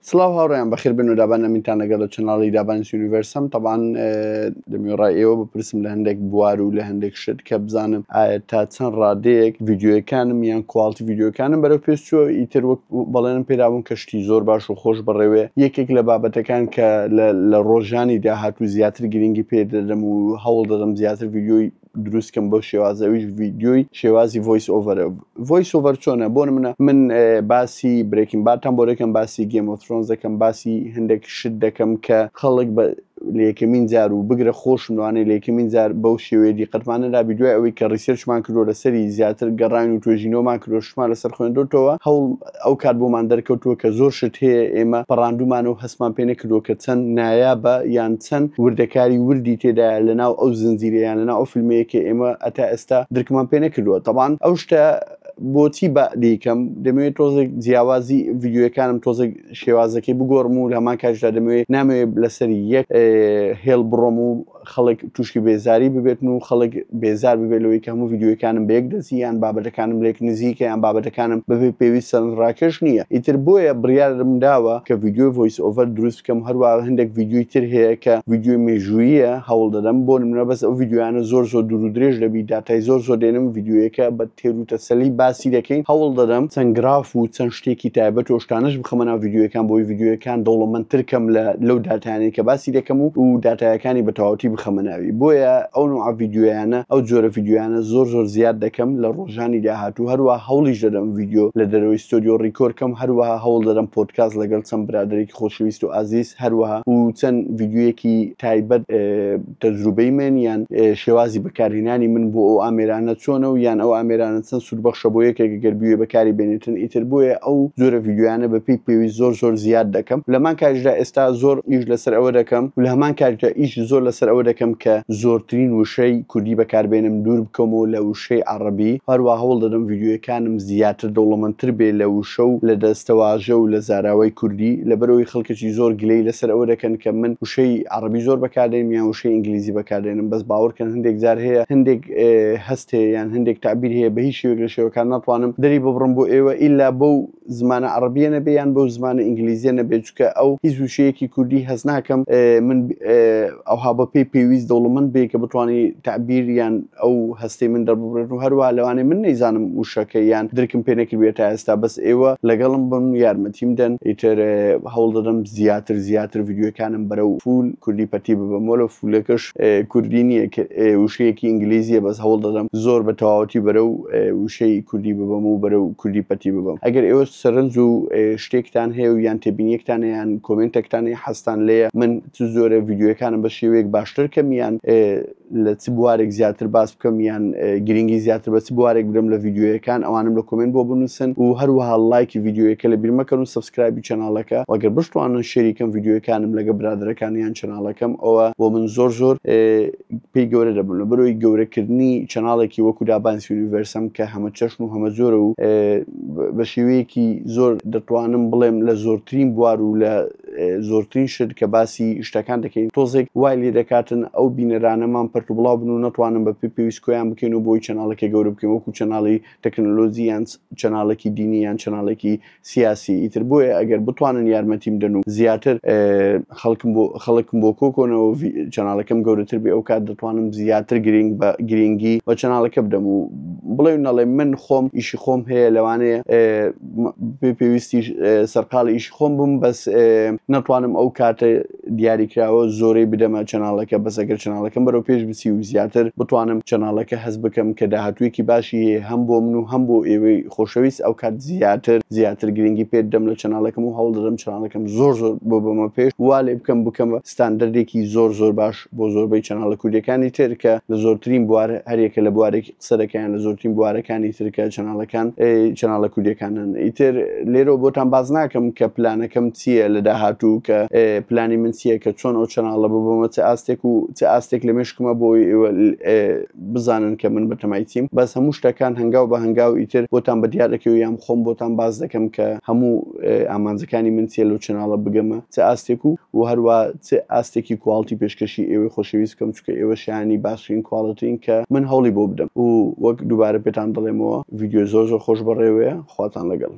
سڵاو هاوڕێیان بەخێر بن و دابان ئەمینتان لەگەڵ لە چەناڵی دابانی یونیڤرسم تەبان دەمیێڕای ئێوە بپرسم لە هەندێک بوار و لە هەندێک شت کە بزانم ئایا تا چەند ڕادەیەک یددیوەکانم یان کوالتی یددیوەکانم بەرەو پێشچوە ئیتر وەک بەڵێنم پێدابوون کەشتی زۆر باش و خۆش بڕێوێ یەکێک لە بابەتەکان کە لە ڕۆژانی داهات و زیاتر گرنگی پێ دەدەم و هەوڵ دەدەم زیاتر یددیوی دروستکەم بۆ شێوازەویش ڤیددیوی شێوازی ڤۆیس ئۆڤەرە ڤۆیس ئۆڤەر چۆنە بۆن منە من باسی برێکین باتان بۆ دەکەم باسی گەمۆترۆن دەکەم باسی هەندێک شت دەکەم کە خەڵک بە لەکەمین جار و بگرە خۆشموانەی لەکەمین جار بەو شێوەیە دیقەتمانەدا دوای ئەوەی کە ڕیسێرچمان کردو لەسەری زیاتر گەڕان و توێژینەوەمان کرۆشمان لەسەر خوێندوتەوە هەوڵ ئەو کات بۆمان دەرکەوتووە کە زۆر شت هەیە ئێمە پەڕاندوومانە و هەستمان پێ نەکردووە کە چەند نایابە یان چەند وردەکاری وردی تێدایە لەناو ئەو زنجیرە یان لەناو ئەو فیلمەیە کە ئێمە هەتا ئێستا درکمان پێ نەکردووە تەبان ئەو شتە بۆچی بە دەیکەم دەمەوێت تۆزێک جیاوازی ڤیددیوەکانم تۆزێک شێوازەکەی بگۆڕم و لە هەمان کاتشدا دەمەوێت نامەوێت لەسەری یەک هێڵ بڕۆم و خەڵک تووشی بێزاری ببێتن و خەڵک بێزار ببێت لەوەی کە هەموو یددیوەکانم بە یەک دەزییان بابەتەکانم لێک نزیکە یان بابەتەکانم بەبێ پێویست سەرنج ڕاکێش نییە ئیتر بۆیە بڕیارم داوە کە یددیوی ڤۆیس ئۆڤەر دروست بکەم هەروە هەندێک یددیوی تر هەیە کە یددیوی مێژووییە هەوڵ دەدەم بۆ نمونە بەس ئەو یددیویانە زۆر زۆر دوور و درێژ دەبی داتای زۆر زۆر دێنم یددیویەکە بە تێروتەسەلی باسی دەکەین هەوڵ دەدەم چەند گراف و چەند شتێکی تایبەت و شتانەش بخەمە ناو ڤیدیۆیەکان بۆی ڤیدیۆیەکان دەوڵەمەندتر کەم لە لەو داتایانەی کە باسی دەکەم و و داتایەکانی بە تەواوەتی بخەمە ناوی بۆیە ئەو نوعە ڤیدیۆیانە ئەو جۆرە ڤیدیۆیانە زۆر زۆر زیاد دەکەم لە ڕۆژانی داهاتوو هەروەها هەوڵیش دەدەم ڤیدیۆ لە دەرەوەی ستۆدیۆ ڕیکۆر کەم هەروەها هەوڵ دەدەم پۆدکاست لەگەڵ چەند برادەرێکی خۆشەویست و ئازیز هەروەها و چەند ڤیدیۆیەکی تایبەت تەجروبەی من یان شێوازی بەکارهێنانی من بۆ ئەو ئامێرانە چۆنە و یان ئەو ئامێرانە چەند سوودبەخشە بۆ یەکێک گەر بوێ بەکاری بێنێتن ئیتر بۆیە ئەو جۆرە ڤیدیۆیانە بەپێی پێویست زۆر زۆر زیاد دەکەم لە هەمان کاتیشدا ئێستا زۆر ئیش لەسەر ئەوە دەکەم و لە هەمان کاتیشدا ئیشی زۆر لەسەر ئەوە دەکەم کە زۆرترین وشەی کوردی بەکاربێنم دوور بکەمەوە لە وشەی عەڕەبی هەروەها هەوڵ دەدەم ڤیدیۆیەکانم زیاتر دەوڵەمەندتر بێ لە وشە و لە دەستەواژە و لە زاراوەی کوردی لەبەر ئەوەی خەڵکێکی زۆر گلەی لەسەر ئەوە دەکەن کە من وشەی عەڕەبی زۆر بەکاردێنم یان وشەی ئینگلیزی بەکاردێنم بەس باوەڕکەن هەندێک جار هەیە هەندێک هەست هەیە یان هەندێک تەعبیر هەیە بە هیچ شێوەیەک لە شێوەکان ناتوانم دەری ببڕم بۆ ئێوە ئیلا بەو زمانە عەڕەبییە نەبێ یان بەو زمانە ئینگلیزییە نەبێ چونکە ئەو هیچ وشەیەکی کوردی هەست ناکەم من ئەوها بەپێی پێویست دەوڵەمەند بێ کە بتوانی تەعبیر یان ئەو هەستەی من دەرببڕێت و هەروە لەوانێ من نەیزانم وشەکە یان درکم پێ نەکردێت تا ئێستا بەس ئێوە لەگەڵم بم یارمەتیم دەن ئیتر هەوڵ دەدەم زیاتر زیاتر یددیوەکانم بەرەو فول کوردی پەتی ببم وە لە فولەکەش کوردی نییە وشەیەکی ئینگلیزیە بەس هەوڵ دەدەم زۆر بە تەواوەتی بەرە و وشەی کوردی ببم و بەرە و کوردی پەتی ببم ئەگەر ئێوە سەرنج و شتێکتان هەیە و یان تێبینیەکتانیان کۆمنتێکتانی حەستان لێە من چ جۆرە ڤیدیۆیەکانم بە شێوەیەک باشتر کەم یان لە چ بوارێک زیاتر باس بکەم یان گرنگی زیاتر بە چ بوارێک برم لە ڤیدیۆیەکان ئەوانم لە کۆمنت بۆ بنووسن و هەروەها لایکی ڤیدیۆیەکە لە بیرمەکەن و سبسکرایبی چەناڵەکە وەگەر بشتوانن شێریکەم ڤیدیۆیەکانم لەگە برادەرەکان یان چەناڵەکەم ئەوە بۆ من زۆر زۆر پێی گەورە دەبن لە بەرۆی گەورەکردنی چەناڵێکی وەکو دابانس یونیڤەرسم کە هەمە چەشن و هەمە زۆرە و بە شێوەیەکی زۆر دەتوانم بڵێم لە زۆرترین بوار و لە زۆرترین شت کە باسی شتەکان دەکەین تۆزێک وای لێ دەکاتن ئەو بینەرانەمان پرت و بڵاو بن و نەتوانم بە پێ پێویست کۆیان بکەین و بۆی چەناڵەکە گەورە بکەین وەکو چەناڵی تەکنەلۆزی یان چەناڵێکی دینی یان چەناڵێکی سیاسی ئیتر بۆیە ئەگەر بتوانن یارمەتیم دەن و زیاتر خەڵکم بۆ خەڵکم بۆ کۆکۆنەوە چەناڵەکەم گەورەتر بێ ئەو کات دەتوانم زیاتر گرنگ بە گرنگی بە چەناڵەکە بدەم و بڵێ نەڵێ من خۆم ئیشی خۆم هەیە لەوانەیە بێ پێویستی سەرقاڵی ئیش خۆم بم بەس نەتوانم ئەو کاتە دیاریکراوە زۆرەی بدەمە چەناڵەکە بەسەگەر چەناڵەکەم بەرەو پێش بچی و زیاتر بتوانم چەناڵەکە هەز بکەم کە داهاتوێکی باشی هەم بۆ من و هەم بۆ ئێوەی خۆشەویست ئەو کات زیاتر زیاتر گرنگی پێ دەم لە چەناڵەکەم و هەوڵ دەدەم چەناڵەکەم زۆر زۆر بۆ بەمە پێش وا لێ بکەم بکەمە ستاندردێکی زۆر زۆر باش بۆ زۆربەی چەناڵە کوردەکانی تر کە لە زۆرترین بوار هەرێکە لە بوارێک سەرەکەیان لە زۆرترین بوارەکانی ترکە چەناڵەکان چەناڵە کوردیەکانن ئیتر لێرە بۆتان باز ناکەم کە پلانەکەم چییە لە داهاتوو کە پلانی من چییە کە چۆن ئەو چەناڵە ببمە چ ئاستێک و چ ئاستێک لە مێشکمە بۆی بزانن کە من بەتەمایتیم بەس هەموو شتەکان هەنگاو بە هەنگاو ئیتر بۆتان بە دیارەکە و یام خۆم بۆتان باز دەکەم کە هەموو ئامانجەکانی من چیە لەو چەناڵە بگەمە چ ئاستێک و و هەروە چ ئاستێکی کواڵتی پێشکەشی ئێوەی خۆشەویست بکەم چونکە ئێوە شایەنی باشترین کواڵتین کە من هەوڵی بۆ بدەم و وەک دووبارە پێتان دەڵێمەوە ڤیدیۆی زۆر زۆر خۆش بەڕێوەیە خواتان لەگەڵ.